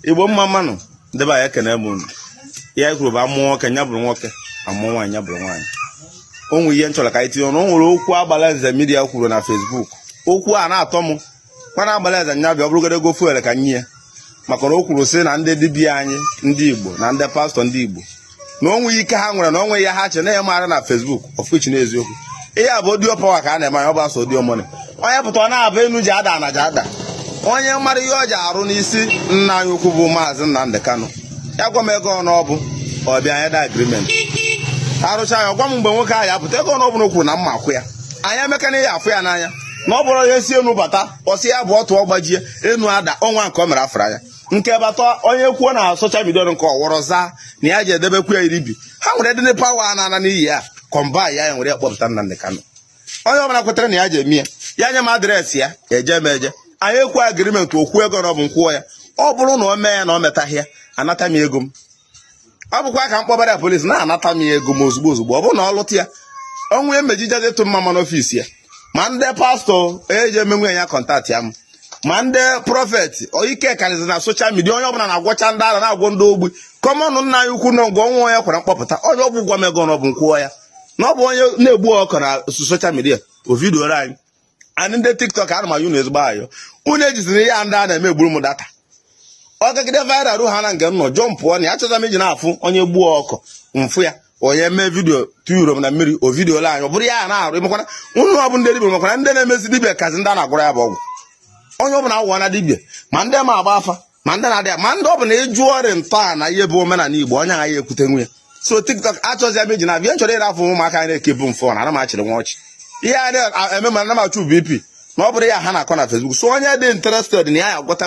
igbo mma mma nụ ndị be anyị ekene m unu ihe anyị kwuru bụ amụọ nwoke nya bụrụ nwoke amụọ nwaanyị nya bụrụ nwaanyị o nwere ihe m chọrọ ka anyị tinye ọnụ o nwere okwu agbalanze media kwuru na Facebook okwu a na-atọ m mana agbalanze nya bịa ọ bụrụgodo ego fuel ka m nye ya maka na o kwuru sị na ndị dibịa anyị ndị igbo na ndị pastor ndị igbo na o nweghị ike ha nwere na o nweghị ihe ha che na ya maara na Facebook of which na eziokwu ihe a bụ audio power ka a na-eme anya ọ bụ asọ audio money onye pụta ọ na-abụ enu ji ada na ji ada onye mara ihe o ji arụ n'isi nna anyị ukwu bụ maazị Nnamdi Kanu ya gwa m ego one ọ bụ ọ bịa anyị edee agreement arụcha ya gwa m mgbe nwoke ahụ ya-apụta ego one ọ bụ na o kwuru na m ma-akwụ ya anyị emekana ya afụ ya n'anya na ọ bụrụ ya si enu bata ọ sị ya bụ ọtụ ọ gbajie enu ada ọnwa nke o mere afra ya nke bata onye kwuo na social media nke ọwọrọ zaa na ya ji edebekwu ya iribi ha nwere dịnị power a na-ana n'iyi ya kọmba ya ya nwere ya kpọpụta Nnamdi Kanu onye ọbụla kwetara na ya ji eme ya ya nye m address ya eje m eje anyị ekwu agreement o kwuo ego one ọ bụ m kwụọ ya ọ bụrụ na o mee ya na o metaghị ya anata m ego m ọ bụkwa ka m kpọbara ya police na-anata m ya ego m ozugbo ozugbo ọ bụrụ na ọ lụta ya ọnwụ emejija dịtụ mma ma n'office ya ma ndị pastor ji emenwu ya contactịa m ma ndị prophet ike karịzi na social media onye ọbụla na-agwọcha ndị ara na-agwọ ndị ogbi kọmọnụ nna anyị ukwu nọ nga ọnwa onye kwara mkpọpụta onye ọ bụ gwa m ego one ọ bụ m kwụọ ya na ọ bụ onye na-egbu ọkụ na social media o vidioro anyị anyị ndị tiktok ana m ayọ unu ezigbo ayọ unu ejiziri ihe ndị a na-eme egburu m data ọ gagide viral ha na nke m nọ jọm pụọ na ya chọta m iji na-afụ onye gbuo ọkụ m fụ ya onye mee video tuyuro m na mmiri o vidiyo ole anyị ọ bụrụ ya na-arụ ịmakwana unu ọ bụ ndị dibịa makwana ndị na-emezi dibịa kazi ndị a na-agwara ya bụ ọgwụ onye ọ bụla agwụwa na dibịa ma ndị ma agba afa ma ndị na-adị ma ndị ọ bụ na ịjụ ọrịa ntọana ihe bụ omenala igbo onye agha ya ekwutenwu ya so tiktok achọzi m iji na-abịa m chọrọ ịrafụ ụmụaka anyị na-ekebu m afọ na ana m achịrị nwa ọchị ihe a na-eme ma ana m achụ bp na ọ bụrụ ihe ha na-akọ na Facebook so onye dị interested na ya ya gwọta